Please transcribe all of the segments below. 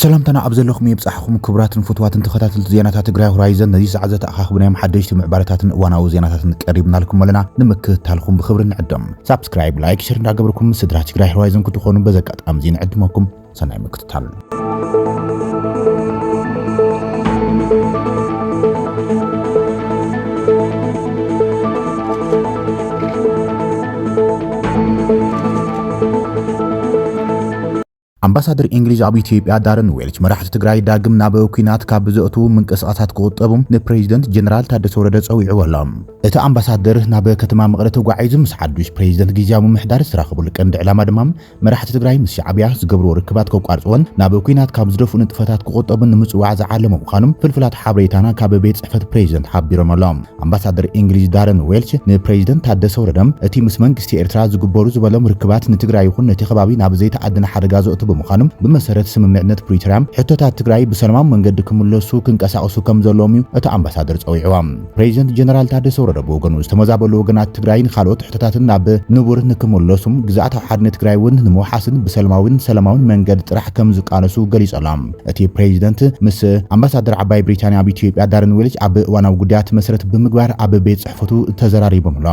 ሰላምታና ኣብ ዘለኹም የብጻሕኹም ክቡራትን ፍትዋትን ተኸታተልቲ ዜናታት ትግራይ ሆራይዘን ነዚ ሰዓት ዘተኣኻኽብናዮም ሓደሽቲ ምዕባለታትን እዋናዊ ዜናታትን ቀሪብናልኩም ኣለና ንምክትታልኩም ብክብሪ ንዕድም ሳብስክራይብ ላይክ ሸር እንዳገበርኩም ስድራ ትግራይ ሆራይዘን ክትኾኑ በዚ ኣጋጣሚ እዚ ንዕድመኩም ሰናይ ኣምባሳደር እንግሊዝ ኣብ ኢትዮጵያ ዳረን ዌልች መራሕቲ ትግራይ ዳግም ናብ ኩናት ካብ ብዘእቱ ምንቅስቓሳት ክቁጠቡ ንፕሬዚደንት ጀነራል ታደሰ ወረደ ጸዊዑ ኣሎ። እቲ ኣምባሳደር ናብ ከተማ መቐለ ተጓዒዙ ምስ ሓዱሽ ፕሬዚደንት ግዜያዊ ምምሕዳር ዝተራኸቡሉ ቀንዲ ዕላማ ድማ መራሕቲ ትግራይ ምስ ሻዕብያ ዝገብርዎ ርክባት ከቋርጽዎን ናብ ኲናት ካብ ዝደፍኡ ንጥፈታት ክቑጠቡን ንምጽዋዕ ዝዓለመ ምዃኑ ፍልፍላት ሓበሬታና ካብ ቤት ጽሕፈት ፕሬዚደንት ሓቢሮም ኣሎ። ኣምባሳደር እንግሊዝ ዳረን ዌልች ንፕሬዚደንት ታደሰ ወረደ እቲ ምስ መንግስቲ ኤርትራ ዝግበሩ ዝበሎም ርክባት ንትግራይ ይኹን ነቲ ከባቢ ናብ ዘይተኣደነ ሓደጋ ዘእቱ ብምዃኑ ብመሰረት ስምምዕነት ፕሪቶርያ ሕቶታት ትግራይ ብሰላማዊ መንገዲ ክምለሱ ክንቀሳቐሱ ከምዘለዎም እዩ እቲ ኣምባሳደር ጸዊዕዎ። ፕሬዚደንት ጀነራል ታደሰ ወረደ ብወገኑ ዝተመዛበሉ ወገናት ትግራይን ካልኦት ሕቶታትን ናብ ንቡር ንክምለሱም ግዝኣታዊ ሓድነት ትግራይ እውን ንምውሓስን ብሰለማዊን ሰላማዊን መንገድ ጥራሕ ከም ዝቃለሱ ገሊጹ ኣሎ። እቲ ፕሬዚደንት ምስ ኣምባሳደር ዓባይ ብሪታንያ ኣብ ኢትዮጵያ ዳርን ዌልች ኣብ እዋናዊ ጉዳያት መሰረት ብምግባር ኣብ ቤት ጽሕፈቱ ተዘራሪቦም ኣሎ።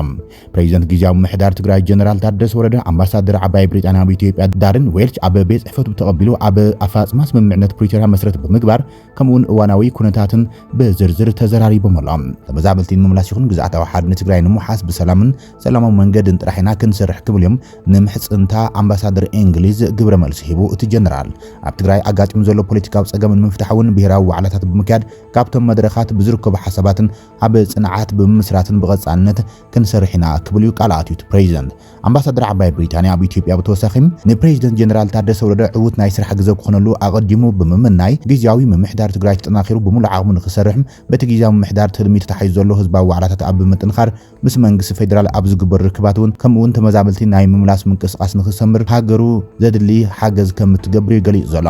ፕሬዚደንት ግዝያዊ ምሕዳር ትግራይ ጀነራል ታደሰ ወረደ ኣምባሳደር ዓባይ ብሪጣንያ ኣብ ኢትዮጵያ ዳርን ዌልች ኣብ ቤት ጽሕፈቱ ተቐቢሉ ኣብ ኣፈፃፅማ ስምምዕነት ፕሪቶርያ መሰረት ብምግባር ከምኡውን እዋናዊ ኩነታትን ብዝርዝር ተዘራሪቦም ኣሎም። ተመዛበልቲ ንምምላስ ይኹን ግዝኣታዊ ሓድነት ትግራይ ንምውሓስ ብሰላምን ሰላማዊ መንገድን ጥራሕ ኢና ክንሰርሕ ክብል እዮም ንምሕጽንታ ኣምባሳደር እንግሊዝ ግብረ መልሲ ሂቡ። እቲ ጀነራል ኣብ ትግራይ ኣጋጢሙ ዘሎ ፖለቲካዊ ጸገም ንምፍታሕ እውን ብሄራዊ ዋዕላታት ብምክያድ ካብቶም መድረኻት ብዝርከቡ ሓሳባትን ኣብ ጽንዓት ብምምስራትን ብቐጻልነት ክንሰርሕ ኢና ክብል እዩ ቃል ኣትዩ እቲ ፕሬዚደንት። ኣምባሳደር ዓባይ ብሪታንያ ኣብ ኢትዮጵያ ብተወሳኺ ንፕሬዚደንት ጀነራል ታደሰ ወረደ ዕዉት ናይ ስራሕ ግዘ ክኾነሉ ኣቐዲሙ ብምምናይ ግዝያዊ ምምሕዳር ትግራይ ተጠናኺሩ ብሙሉእ ዓቕሙ ንክሰርሕ በቲ ግዝያዊ ምምሕዳር ትልሚ ተታሒዙ ዘሎ ህዝባዊ ዋዕላታት ኣብ ብምጥንኻር ምስ መንግስቲ ፌዴራል ኣብ ዝግበሩ ርክባት እውን ከምኡ እውን ተመዛበልቲ ናይ ምምላስ ምንቅስቓስ ንክሰምር ሃገሩ ዘድሊ ሓገዝ ከምትገብር እዩ ገሊፁ ዘሎ።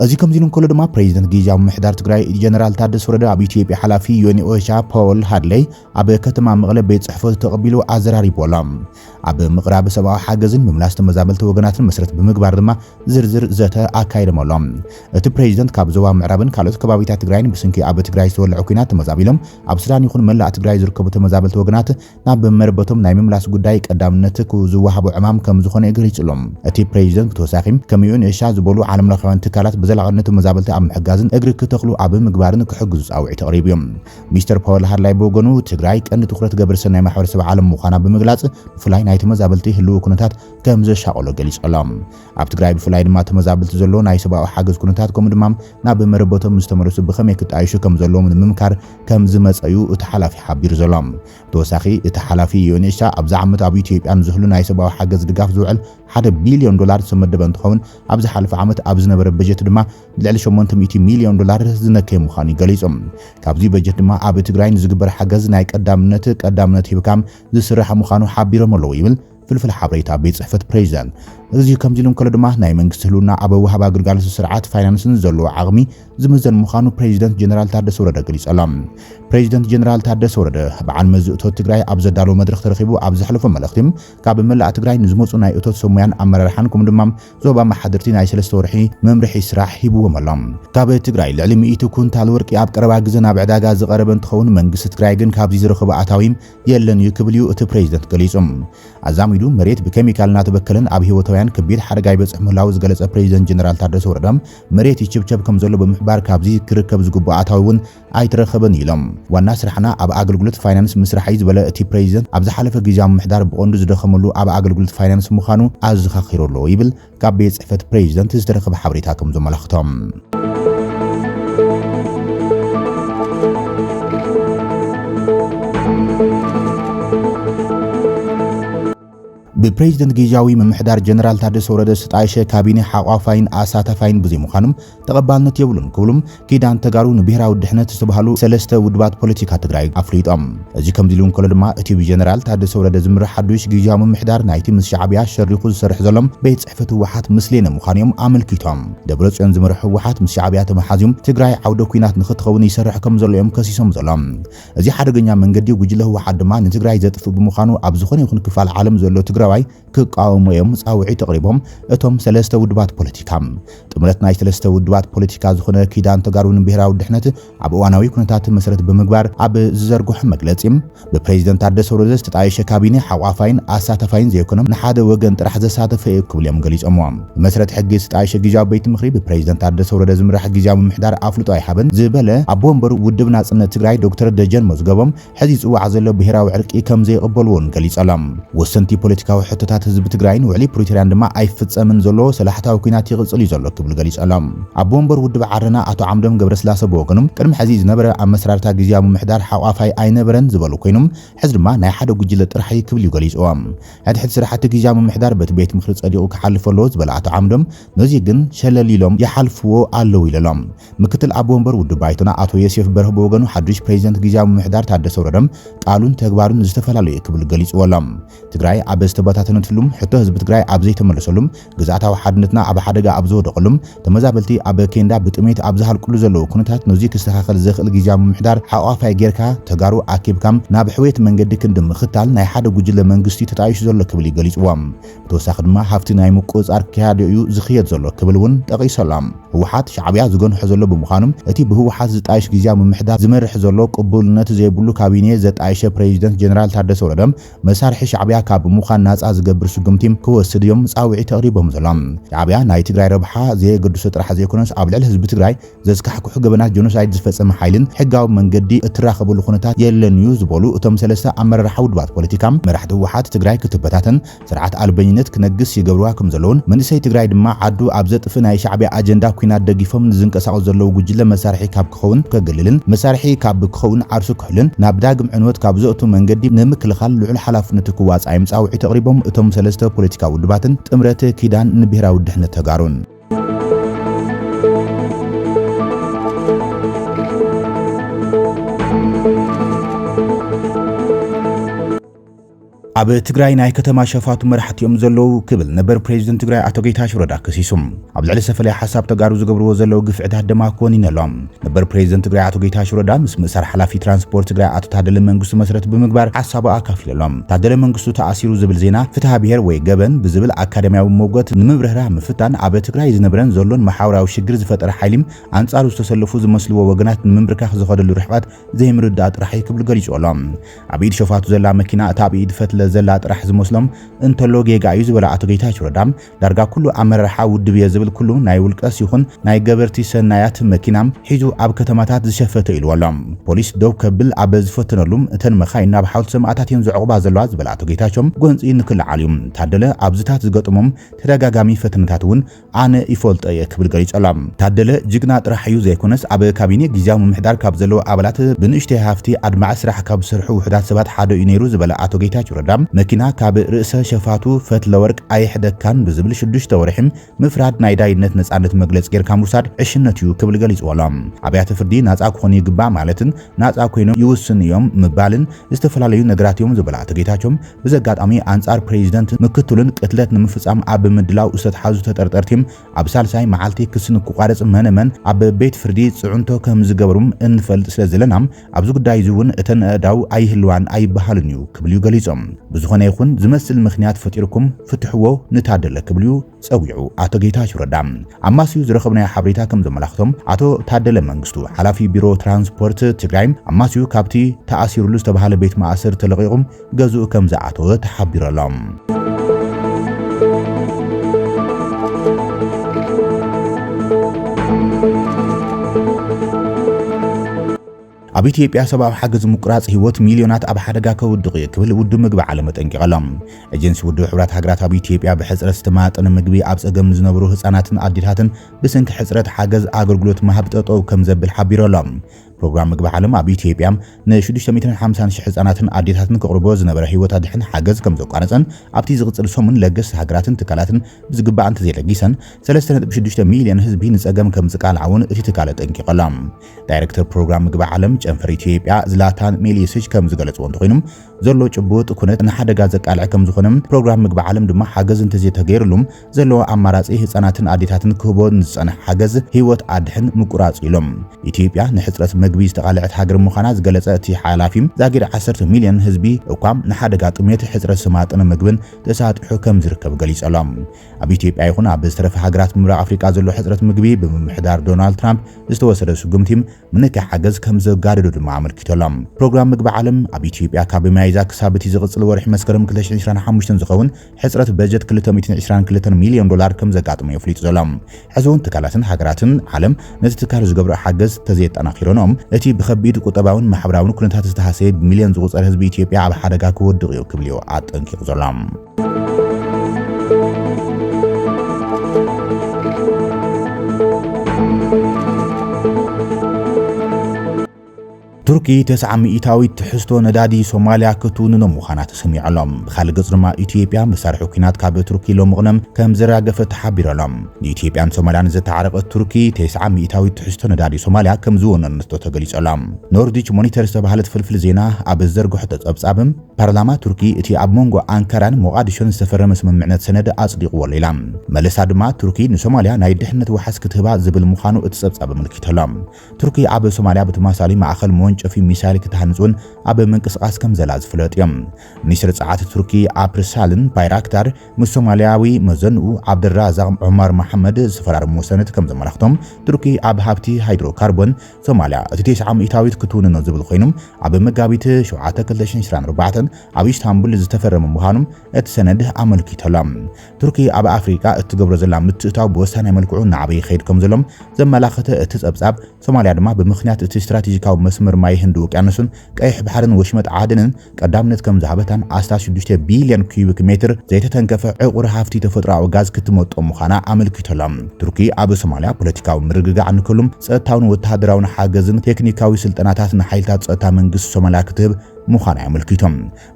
እዚ ከምዚ ኢሉ እንከሎ ድማ ፕሬዚደንት ግዝያዊ ምምሕዳር ትግራይ ጀነራል ታደሰ ወረደ ኣብ ኢትዮጵያ ሓላፊ ዩኤን ኦቻ ፖል ሃድለይ ኣብ ከተማ መቐለ ቤት ጽሕፈቱ ተቐቢሉ ኣዘራሪቡ ኣሎ። ኣብ ምቕራብ ሰብኣዊ ሓገዝን ምምላስ ተመዛበልቲ ወገናትን መሰረት ብምግባር ድማ ዝርዝር ዘተ ኣካይዶም ኣሎ። እቲ ፕሬዚደንት ካብ ዞባ ምዕራብን ካልኦት ከባቢታት ትግራይን ብስንኪ ኣብ ትግራይ ዝተወልዐ ኲናት ተመዛቢሎም ኣብ ሱዳን ይኹን መላእ ትግራይ ዝርከቡ ተመዛበልቲ ወገናት ናብ መረበቶም ናይ ምምላስ ጉዳይ ቀዳምነት ክዝወሃቦ ዕማም ከምዝኾነ ገሊጹ ኣሎ። እቲ ፕረዚደንት ብተወሳኺ ከም ዩኤን ኤሻ ዝበሉ ዓለምለኻውያን ትካላት ብዘላቒነት ተመዛበልቲ ኣብ ምሕጋዝን እግሪ ክተኽሉ ኣብ ምግባርን ክሕግዙ ጻውዒት ኣቕሪቡ እዩ። ሚስተር ፓወል ሃድላይ ብወገኑ ትግራይ ቀንዲ ትኹረት ገበረሰናይ ማሕበረሰብ ዓለም ምዃና ብምግላጽ ብፍላይ ናይ ተመዛበልቲ ህልዊ ኩነታት ከምዘሻቐሎ ገሊጹ ኣሎ። ኣብ ትግራይ ብፍላይ ድማ ተመዛበልቲ ዘሎ ናይ ሰብኣዊ ሓገዝ ኩነታት ከምኡ ድማ ናብ መረበቶም ዝተመለሱ ብኸመይ ክጣየሹ ከምዘለዎም ንምምካር ከም ዝመጸ'ዩ እቲ ሓላፊ ሓቢሩ ዘሎ። ብተወሳኺ እቲ ሓላፊ ዩኤንኤችሳ ኣብዚ ዓመት ኣብ ኢትዮጵያ ንዝህሉ ናይ ሰብኣዊ ሓገዝ ድጋፍ ዝውዕል ሓደ ቢልዮን ዶላር ዝተመደበ እንትኸውን ኣብ ዝሓለፈ ዓመት ኣብ ዝነበረ በጀት ድማ ልዕሊ ሸሞንተ ሚእቲ ሚልዮን ዶላር ዝነከየ ምዃኑ'ዩ ገሊጹ። ካብዚ በጀት ድማ ኣብ ትግራይ ንዝግበር ሓገዝ ናይ ቀዳምነት ቀዳምነት ሂብካም ዝስራሕ ምዃኑ ሓቢሮም ኣለው ይብል ፍልፍል ሓበሬታ ቤት ጽሕፈት ፕሬዚዳንት እዚ ከምዚ ኢሉ እንከሎ ድማ ናይ መንግስቲ ህልውና ኣብ ወሃባ ግልጋሎት ስርዓት ፋይናንስን ዘለዎ ዓቕሚ ዝምዘን ምዃኑ ፕሬዚደንት ጀነራል ታደሰ ወረደ ገሊጹ ኣሎ። ፕሬዚደንት ጀነራል ታደሰ ወረደ በዓል መዚ እቶት ትግራይ ኣብ ዘዳለዎ መድረኽ ተረኺቡ ኣብ ዘሕለፎ መልእኽቲ ካብ መላእ ትግራይ ንዝመፁ ናይ እቶት ሰብ ሙያን ኣመራርሓን ከምኡ ድማ ዞባ ኣመሓደርቲ ናይ ሰለስተ ወርሒ መምርሒ ስራሕ ሂብዎም ኣሎ። ካብ ትግራይ ልዕሊ ሚእቲ ኩንታል ወርቂ ኣብ ቀረባ ግዘ ናብ ዕዳጋ ዝቐረበ እንትኸውን መንግስቲ ትግራይ ግን ካብዚ ዝረኸቦ ኣታዊ የለን እዩ ክብል እዩ እቲ ፕሬዚደንት ገሊፁ። ኣዛሚዱ መሬት ብኬሚካል እናተበከለን ኣብ ህይወታውያን ከቢድ ሓደጋ ይበፅሕ ምህላዉ ዝገለፀ ፕሬዚደንት ጀነራል ታደሰ ወረደ መሬት ይችብቸብ ከምዘሎ ብምሕባር ካብዚ ክርከብ ዝግብኦ ኣታዊ እውን ኣይተረኸበን እዩ ኢሎም። ዋና ስራሕና ኣብ ኣገልግሎት ፋይናንስ ምስራሕ እዩ ዝበለ እቲ ፕሬዚደንት ኣብ ዝሓለፈ ግዚያዊ ምምሕዳር ብቐንዱ ዝደኸመሉ ኣብ ኣገልግሎት ፋይናንስ ምዃኑ ኣዘኻኺሩ ኣሎ ይብል ካብ ቤት ጽሕፈት ፕሬዚደንት ዝተረኸበ ሓበሬታ ከም ዘመላኽቶም ብፕሬዚደንት ግዝያዊ ምምሕዳር ጀነራል ታደሰ ወረደ ዝተጣየሸ ካቢኔ ሓቋፋይን ኣሳታፋይን ብዘይምዃኑ ተቐባልነት የብሉን ክብሉ ኪዳን ተጋሩ ንብሄራዊ ድሕነት ዝተባህሉ ሰለስተ ውድባት ፖለቲካ ትግራይ ኣፍሊጦም። እዚ ከምዚ ኢሉ እንከሎ ድማ እቲ ብጀነራል ታደሰ ወረደ ዝምራሕ ሓዱሽ ግዝያዊ ምምሕዳር ናይቲ ምስ ሻዕብያ ሸሪኹ ዝሰርሕ ዘሎ ቤት ፅሕፈት ህወሓት ምስሌነ ምዃኑ እዮም ኣመልኪቶም። ደብረፅዮን ዝመርሖ ህወሓት ምስ ሻዕብያ ተመሓዝዩ ትግራይ ዓውደ ኲናት ንኽትኸውን ይሰርሕ ከም ዘሎ እዮም ከሲሶም ዘሎም። እዚ ሓደገኛ መንገዲ ጉጅለ ህወሓት ድማ ንትግራይ ዘጥፍእ ብምዃኑ ኣብ ዝኾነ ይኹን ክፋል ዓለም ዘሎ ትግራዋይ ክቃወሙ እዮም ጻውዒት ኣቕሪቦም። እቶም ሰለስተ ውድባት ፖለቲካ። ጥምረት ናይ ሰለስተ ውድባት ፖለቲካ ዝኾነ ኪዳን ተጋሩ ንብሄራዊ ድሕነት ኣብ እዋናዊ ኩነታት መሰረት ብምግባር ኣብ ዝዘርግሖ መግለጺ ብፕሬዚደንት ታደሰ ወረደ ዝተጣየሸ ካቢኔ ሓቋፋይን ኣሳታፋይን ዘይኮነ ንሓደ ወገን ጥራሕ ዘሳተፈ እዩ ክብሉ እዮም ገሊፆምዎ። ብመሰረት ሕጊ ዝተጣየሸ ጊዜያዊ ቤት ምኽሪ ብፕሬዚደንት ታደሰ ወረደ ዝምራሕ ጊዜያዊ ምምሕዳር ኣፍልጦ ኣይሃበን ዝበለ ኣቦ ወንበር ውድብ ናፅነት ትግራይ ዶክተር ደጀን መዝገቦም ሕዚ ዝጽዋዕ ዘሎ ብሄራዊ ዕርቂ ከም ዘይቕበልዎን ገሊጸሎም። ወሰንቲ ፖለቲካዊ ሕቶታት ህዝቢ ትግራይን ውዕሊ ፕሪቶርያን ድማ ኣይፍጸምን ዘሎ፣ ሰላሕታዊ ኲናት ይቕጽል እዩ ዘሎ ክብሉ ገሊጸሎም። ኣቦ ወንበር ውድብ ዓረና ኣቶ ዓምዶም ገብረስላሰ ብወገኖም ቅድሚ ሕዚ ዝነበረ ኣመሰራርታ ግዝያዊ ምምሕዳር ሓቋፋይ ኣይነበረን ዝበሉ ኮይኖም ሕዚ ድማ ናይ ሓደ ጉጅለ ጥራሕ እዩ ክብል እዩ ገሊጽዎ። ሕድሕድ ስራሕቲ ግዝያዊ ምምሕዳር በቲ ቤት ምኽሪ ጸዲቑ ክሓልፍ ኣለዎ ዝበለ ኣቶ ዓምዶም ነዚ ግን ሸለል ኢሎም ይሓልፍዎ ኣለው ኢለሎም። ምክትል ኣቦ ወንበር ውድብ ባይቶና ኣቶ ዮሴፍ በርሀ ብወገኑ ሓዱሽ ፕሬዚደንት ግዝያዊ ምምሕዳር ታደሰ ወረደ ቃሉን ተግባሩን ዝተፈላለዩ'ዩ ክብል ገሊፅዎ ኣሎ። ትግራይ ኣብ ዝተበታተነትሉም፣ ሕቶ ህዝቢ ትግራይ ኣብ ዘይተመለሰሉም፣ ግዝኣታዊ ሓድነትና ኣብ ሓደጋ ኣብ ዝወደቐሉም፣ ተመዛበልቲ ኣብ ኬንዳ ብጥሜት ኣብ ዝሃልቅሉ ዘለው ኩነታት ነዙይ ክስተኻኸል ዘኽእል ግዝያዊ ምምሕዳር ሓቋፋይ ገይርካ ተጋሩ ኣኪብካ ናብ ሕውየት መንገዲ ክንዲ ምኽታል ናይ ሓደ ጉጅለ መንግስቲ'ዩ ተጣይሹ ዘሎ ክብል'ዩ ገሊፅዎ። ብተወሳኺ ድማ ሃፍቲ ናይ ምቁጽጻር ክያዶ እዩ ዝኽየድ ዘሎ ክብል እውን ጠቒሱ ኣሎ። ህወሓት ሻዕብያ ዝገንሖ ዘሎ ብምዃኑ እቲ ብህወሓት ዝጣየሽ ግዝያዊ ምምሕዳር ዝመርሕ ዘሎ ቅቡልነት ዘይብሉ ካቢኔ ዘጣየሸ ፕረዚደንት ጀነራል ታደሰ ወረደ መሳርሒ ሻዕብያ ካብ ምዃን ናጻ ዝገብር ስጉምቲ ክወስድ እዮም ጻውዒት ኣቕሪቦም ዘሎም። ሻዕብያ ናይ ትግራይ ረብሓ ዘየገድሶ ጥራሕ ዘይኮነስ ኣብ ልዕሊ ህዝቢ ትግራይ ዘስካሕክሑ ገበናት ጆኖሳይድ ዝፈፀመ ሓይሊን ሕጋዊ መንገዲ እትራኸበሉ ኩነታት የለን እዩ ዝበሉ እቶም ሰለስተ ኣመራርሓ ውድባት ፖለቲካ፣ መራሕቲ ህወሓት ትግራይ ክትበታተን ስርዓት ኣልበኝነት ክነግስ ይገብርዋ ከምዘለውን መንእሰይ ትግራይ ድማ ዓዱ ኣብ ዘጥፍእ ናይ ሻዕቢያ ኣጀንዳ ኩናት ደጊፎም ንዝንቀሳቐሱ ዘለዉ ጉጅለ መሳርሒ ካብ ክኸውን ከግልልን መሳርሒ ካብ ክኸውን ዓርሱ ክሕልን ናብ ዳግም ዕንወት ካብ ዘእቱ መንገዲ ንምክልኻል ልዑል ሓላፍነቱ ክዋፃእ'ዮም ፃውዒት ኣቕሪቦም እቶም ሰለስተ ፖለቲካዊ ውድባትን ጥምረት ኪዳን ንብሄራዊ ድሕነት ተጋሩን። ኣብ ትግራይ ናይ ከተማ ሸፋቱ መራሕቲ እዮም ዘለዉ ክብል ነበር ፕሬዚደንት ትግራይ ኣቶ ጌታቸው ረዳ ከሲሱ። ኣብ ልዕሊ ሰፈላይ ሓሳብ ተጋሩ ዝገብርዎ ዘለዉ ግፍዕታት ድማ ኮኒኑ ኣሎ። ነበር ፕሬዝደንት ትግራይ ኣቶ ጌታቸው ረዳ ምስ ምእሳር ሓላፊ ትራንስፖርት ትግራይ ኣቶ ታደለ መንግስቱ መስረት ብምግባር ሓሳቡ ኣካፊሉ ኣሎ። ታደለ መንግስቱ ተኣሲሩ ዝብል ዜና ፍትሃ ብሄር ወይ ገበን ብዝብል ኣካዳሚያዊ ሞገት ንምብርህራህ ምፍታን ኣብ ትግራይ ዝነብረን ዘሎን መሓውራዊ ሽግር ዝፈጠረ ሓይሊም ኣንጻሩ ዝተሰለፉ ዝመስልዎ ወገናት ንምምብርካኽ ዝኸደሉ ርሕቐት ዘይምርዳእ ጥራሕ እዩ ክብል ገሊጹ ኣሎ። ኣብ ኢድ ሸፋቱ ዘላ መኪና እታ ኣብ ኢድ ፈትለ ዘላ ጥራሕ ዝመስሎም እንተሎ ጌጋ እዩ ዝበለ ኣቶ ጌታቸው ረዳ ዳርጋ ኩሉ ኣመራርሓ ውድብ'የ ዝብል ኩሉ ናይ ውልቀስ ይኹን ናይ ገበርቲ ሰናያት መኪና ሒዙ ኣብ ከተማታት ዝሸፈተ ኢልዎ ኣሎ። ፖሊስ ደው ከብል ኣበ ዝፈተነሉ እተን መኻይን ናብ ሓውልቲ ሰማእታት እየን ዝዕቑባ ዘለዋ ዝበለ ኣቶ ጌታቸው ጎንፂ ንክልዓል እዩ ታደለ ኣብዚታት ዝገጠሞም ተደጋጋሚ ፈተነታት እውን ኣነ ይፈልጦ እየ ክብል ገሊፁ ኣሎ። ታደለ ጅግና ጥራሕ እዩ ዘይኮነስ ኣብ ካቢኔ ጊዚያዊ ምምሕዳር ካብ ዘለዉ ኣባላት ብንእሽተይ ሃፍቲ ኣድማዒ ስራሕ ካብ ዝሰርሑ ውሑዳት ሰባት ሓደ እዩ ነይሩ ዝበለ ኣቶ ጌታቸው ረዳ መኪና ካብ ርእሰ ሸፋቱ ፈትለወርቅ ኣይሕደግካን ብዝብል ሽዱሽተ ወርሒ ምፍራድ ናይ ዳይነት ነጻነት መግለጺ ጌርካ ምውሳድ ዕሽነት እዩ ክብል ገሊጽዎ ኣሎ። ኣብያተ ፍርዲ ናጻ ክኾኑ ይግባእ ማለትን ናጻ ኮይኖም ይውስኑ እዮም ምባልን ዝተፈላለዩ ነገራት እዮም ዝበሉ ኣቶ ጌታቸው፣ ብዘጋጣሚ ኣንጻር ፕሬዚደንትን ምክትሉን ቅትለት ንምፍጻም ኣብ ምድላው ዝተትሓዙ ተጠርጠርቲ ኣብ ሳልሳይ መዓልቲ ክሲ ንክቋረጽ መነ መን ኣብ ቤት ፍርዲ ጽዕንቶ ከምዝገበሩም እንፈልጥ ስለዘለና ኣብዚ ጉዳይ እዚ እውን እተን ኣእዳው ኣይህልዋን ኣይበሃልን እዩ ክብል'ዩ ገሊጾም። ብዝኾነ ይኹን ዝመስል ምኽንያት ፈጢርኩም ፍትሕዎ ንታደለ ክብል'ዩ ጸዊዑ ኣቶ ጌታቸው ረዳ። ኣማስዩ ዝረኸብናዮ ሓበሬታ ከም ዘመላኽቶ ኣቶ ታደለ መንግስቱ ሓላፊ ቢሮ ትራንስፖርት ትግራይ ኣማስዩ ካብቲ ተኣሲሩሉ ዝተባሃለ ቤት ማእስር ተለቒቑ ገዝኡ ከም ዝኣተወ ተሓቢሩ ኣሎ። ኣብ ኢትዮጵያ ሰብኣዊ ሓገዝ ምቁራጽ ህይወት ሚልዮናት ኣብ ሓደጋ ከውድቕ እዩ ክብል ውድብ ምግቢ ዓለም ኣጠንቂቑ ኣሎ። ኤጀንሲ ውድብ ሕብራት ሃገራት ኣብ ኢትዮጵያ ብሕጽረት ዝተማጠነ ምግቢ ኣብ ጸገም ንዝነበሩ ህጻናትን ኣዴታትን ብሰንኪ ሕጽረት ሓገዝ ኣገልግሎት ምሃብ ጠጠው ከም ዘብል ሓቢሩ ኣሎ። ፕሮግራም ምግቢ ዓለም ኣብ ኢትዮጵያ ን650 ሽሕ ህጻናትን ኣዴታትን ከቕርቦ ዝነበረ ህይወት ኣድሕን ሓገዝ ከምዘቋረጸን ኣብቲ ዝቕጽል ሰሙን ለገስቲ ሃገራትን ትካላትን ብዝግባእ እንተዘይለጊሰን 3.6 ሚልዮን ህዝቢ ንጸገም ከምዝቃልዓ'ውን እቲ ትካል ኣጠንቂቑ ኣሎ። ዳይረክተር ፕሮግራም ምግቢ ዓለም ጨንፈር ኢትዮጵያ ዝላታን ሜሊየሲች ከምዝገለጽዎ እንተኾይኑ ዘሎ ጭቡጥ ኩነት ንሓደጋ ዘቃልዕ ከምዝኾነ ፕሮግራም ምግቢ ዓለም ድማ ሓገዝ እንተዘይተገይርሉ ዘለዎ ኣማራጺ ህጻናትን ኣዴታትን ክህቦ ንዝጸንሐ ሓገዝ ህይወት ኣድሕን ምቁራጽ'ዩ ኢሎም። ኢትዮጵያ ንሕጽረት መግቢ ዝተቓልዐት ሃገር ምዃና ዝገለጸ እቲ ሓላፊ፣ ዛጊድ ዓሰርተ ሚልዮን ህዝቢ እኳ ንሓደጋ ጥሜት፣ ሕጽረት ዝተማጠነ መግብን ተሳጢሑ ከምዝርከብ ገሊጹ ኣሎ። ኣብ ኢትዮጵያ ይኹን ኣብ ዝተረፈ ሃገራት ምብራቕ ኣፍሪቃ ዘሎ ሕጽረት ምግቢ ብምምሕዳር ዶናልድ ትራምፕ ዝተወሰደ ስጉምቲ ምንካይ ሓገዝ ከምዘጋደዶ ድማ ኣመልኪቱ ኣሎ። ፕሮግራም ምግቢ ዓለም ኣብ ኢትዮጵያ ካብ ሚያዝያ ክሳብ እቲ ዝቕጽል ወርሒ መስከረም ክልተ ሽሕን ዕስራን ሓሙሽተን ዝኸውን ሕጽረት በጀት ክልተ ሚእትን ዕስራን ክልተን ሚልዮን ዶላር ከምዘጋጥሞ'ዩ ኣፍሊጡ ዘሎ። ሕዚ'ውን ትካላትን ሃገራትን ዓለም ነቲ ትካል ዝገብርኦ ሓገዝ ተዘየጠናኺረንኦ እቲ ብኸቢድ ቁጠባዊን ማሕበራዊን ኩነታት ዝተሃሰየ ብሚልዮን ዝቑጸር ህዝቢ ኢትዮጵያ ኣብ ሓደጋ ክወድቕ'ዩ ክብል'ዩ ኣጠንቂቑ ዘሎ። ቱርኪ ተስዓ ሚኢታዊት ትሕዝቶ ነዳዲ ሶማልያ ክትውንኖ ምዃና ተሰሚዑ ኣሎ። ብኻልእ ገጽ ድማ ኢትዮጵያ መሳርሒ ኲናት ካብ ቱርኪ ሎሚ ቅነ ከም ዘራገፈት ተሓቢሩ ኣሎ። ንኢትዮጵያን ሶማልያን ዘተዓረቐት ቱርኪ ተስዓ ሚኢታዊት ትሕዝቶ ነዳዲ ሶማልያ ከም ዝወነነቶ ተገሊጹ ኣሎ። ኖርዲች ሞኒተር ዝተባህለት ፍልፍል ዜና ኣብ ዝዘርግሖቶ ጸብጻብ፣ ፓርላማ ቱርኪ እቲ ኣብ መንጎ ኣንካራን ሞቓድሾን ዝተፈረመ ስምምዕነት ሰነድ ኣጽዲቕዎ ኣሎ ኢላ። መለሳ ድማ ቱርኪ ንሶማልያ ናይ ድሕነት ዋሕስ ክትህባ ዝብል ምዃኑ እቲ ጸብጻብ ኣመልኪቱ ኣሎ። ቱርኪ ኣብ ሶማልያ ብተመሳሳሊ ማእኸል መወንጨፊ ሚሳይል ክትሃንፅ እውን ኣብ ምንቅስቓስ ከምዘላ ዝፍለጥ እዮ። ሚኒስትር ፀዓት ቱርኪ ኣፕርሳልን ባይራክታር ምስ ሶማልያዊ መዘንኡ ዓብደልራዛቕ ዑመር መሓመድ ዝተፈራረምዎ ሰነድ ከምዘመላኽቶ ቱርኪ ኣብ ሃብቲ ሃይድሮ ካርቦን ሶማልያ እቲ ቴስዓ ሚእታዊት ክትውንኖ ዝብል ኮይኑ ኣብ መጋቢት ሸውዓተ ክልተ ሽሕን ዕስራን ኣርባዕተን ኣብ ኢስታንቡል ዝተፈረመ ምዃኑ እቲ ሰነድ ኣመልኪቱ ኣሎ። ቱርኪ ኣብ ኣፍሪቃ እትገብሮ ዘላ ምትእትታው ብወሳናይ መልክዑ እናዓበየ ይኸይድ ከምዘሎ ዘመላኸተ እቲ ጸብጻብ፣ ሶማልያ ድማ ብምኽንያት እቲ ስትራቴጂካዊ መስመር ማይ ህንዲ ውቅያኖስን ቀይሕ ባሕርን ወሽመጥ ዓደንን ቀዳምነት ከምዝሃበታን ኣስታት ሽዱሽተ ቢልዮን ኪዩቢክ ሜትር ዘይተተንከፈ ዕቑር ሃፍቲ ተፈጥሮኣዊ ጋዝ ክትመጦ ምዃና ኣመልኪቱ ኣሎ። ቱርኪ ኣብ ሶማልያ ፖለቲካዊ ምርግጋዕ ንክህሉ ጸጥታውን ወተሃደራውን ሓገዝን ቴክኒካዊ ስልጠናታት ንሓይልታት ጸጥታ መንግስቲ ሶማልያ ክትህብ ምዃና'ዩ ኣመልኪቱ።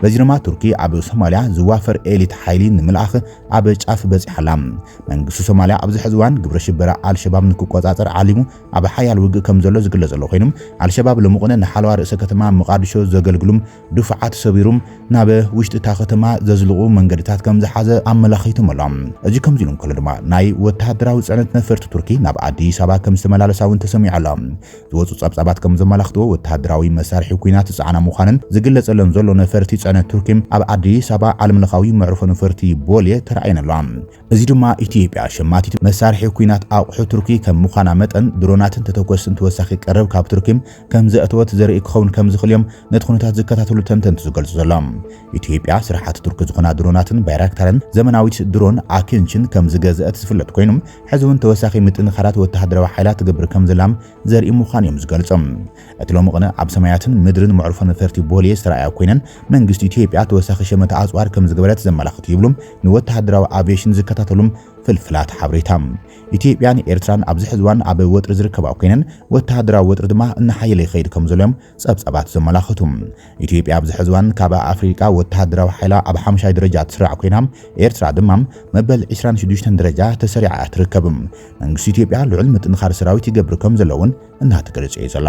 በዚ ድማ ቱርኪ ኣብ ሶማልያ ዝዋፈር ኤሊት ሓይሊ ንምልኣኽ ኣብ ጫፍ በጺሓ ኣላ። መንግስቲ ሶማልያ ኣብዚ ሕዚ እዋን ግብረ ሽበራ ኣልሸባብ ንክቆጻጸር ዓሊሙ ኣብ ሓያል ውግእ ከምዘሎ ዝግለጽ ዘሎ ኮይኑ፣ ኣልሸባብ ሎምቕነ ንሓለዋ ርእሰ ከተማ መቓድሾ ዘገልግሉም ድፋዓት ሰቢሩም ናብ ውሽጢ እታ ከተማ ዘዝልቑ መንገድታት ከምዝሓዘ ኣመላኺቱም ኣሎ። እዚ ከምዚ ኢሉ እንከሎ ድማ ናይ ወተሃደራዊ ጽዕነት ነፈርቲ ቱርኪ ናብ ኣዲስ ኣበባ ከምዝተመላለሳ እውን ተሰሚዑ ኣሎ። ዝወጹ ጸብጻባት ከም ዘመላኽትዎ፣ ወተሃደራዊ መሳርሒ ኲናት ዝጸዓና ምዃነን ዝግለጸለን ዘሎ ነፈርቲ ጽዕነት ቱርኪ፣ ኣብ ኣዲስ ኣበባ ዓለምለኻዊ መዕርፎ ነፈርቲ ቦሌ ተራእየን ኣለዋ። እዚ ድማ ኢትዮጵያ ሸማቲት መሳርሒ ኲናት ኣቑሑ ቱርኪ ከም ምዃና መጠን፣ ድሮናትን ተተኮስትን ተወሳኺ ቀረብ ካብ ቱርኪ ከም ዘእተወት ዘርኢ ክኸውን ከም ዝኽእል እዮም ነቲ ኩነታት ዝከታተሉ ተንተንቲ ዝገልጹ ዘሎም። ኢትዮጵያ ስራሓት ቱርኪ ዝኾና ድሮናትን ባይራክታርን፣ ዘመናዊት ድሮን ኣኪንችን ከም ዝገዘእት ዝፍለጥ ኮይኑ፣ ሕዚ እውን ተወሳኺ ምጥንኻራት ወተሃደራዊ ሓይላ ትገብር ከምዘላም ዘርኢ ምዃኑ እዮም ዝገልጹ። እቲ ሎሚ ቕነ ኣብ ሰማያትን ምድርን መዕርፎ ነፈርቲ ቦሌ ዝተርኣያ ኮይነን መንግስቲ ኢትዮጵያ ተወሳኺ ሸመተ ኣጽዋር ከምዝገበረት ዘመላኽት እዩ ይብሉ ንወተሃደራዊ ኣቪየሽን ዝከታተሉ ፍልፍላት ሓበሬታ። ኢትዮጵያን ኤርትራን ኣብዚ ሕዚ እዋን ኣብ ወጥሪ ዝርከባ ኮይነን ወተሃደራዊ ወጥሪ ድማ እናሓየለ ይኸይድ ከምዘሎ እዮም ጸብጻባት ዘመላኽቱ፣ ኢትዮጵያ ኣብዚ ሕዚ እዋን ካብ ኣፍሪቃ ወተሃደራዊ ሓይላ ኣብ ሓምሻይ ደረጃ ትስራዕ ኮይና፣ ኤርትራ ድማ መበል ዕስራን ሽዱሽተን ደረጃ ተሰሪዓ እያ ትርከብ። መንግስቲ ኢትዮጵያ ልዑል ምጥንኻር ሰራዊት ይገብር ከም ዘሎ እውን እናተገለጸ እዩ ዘሎ።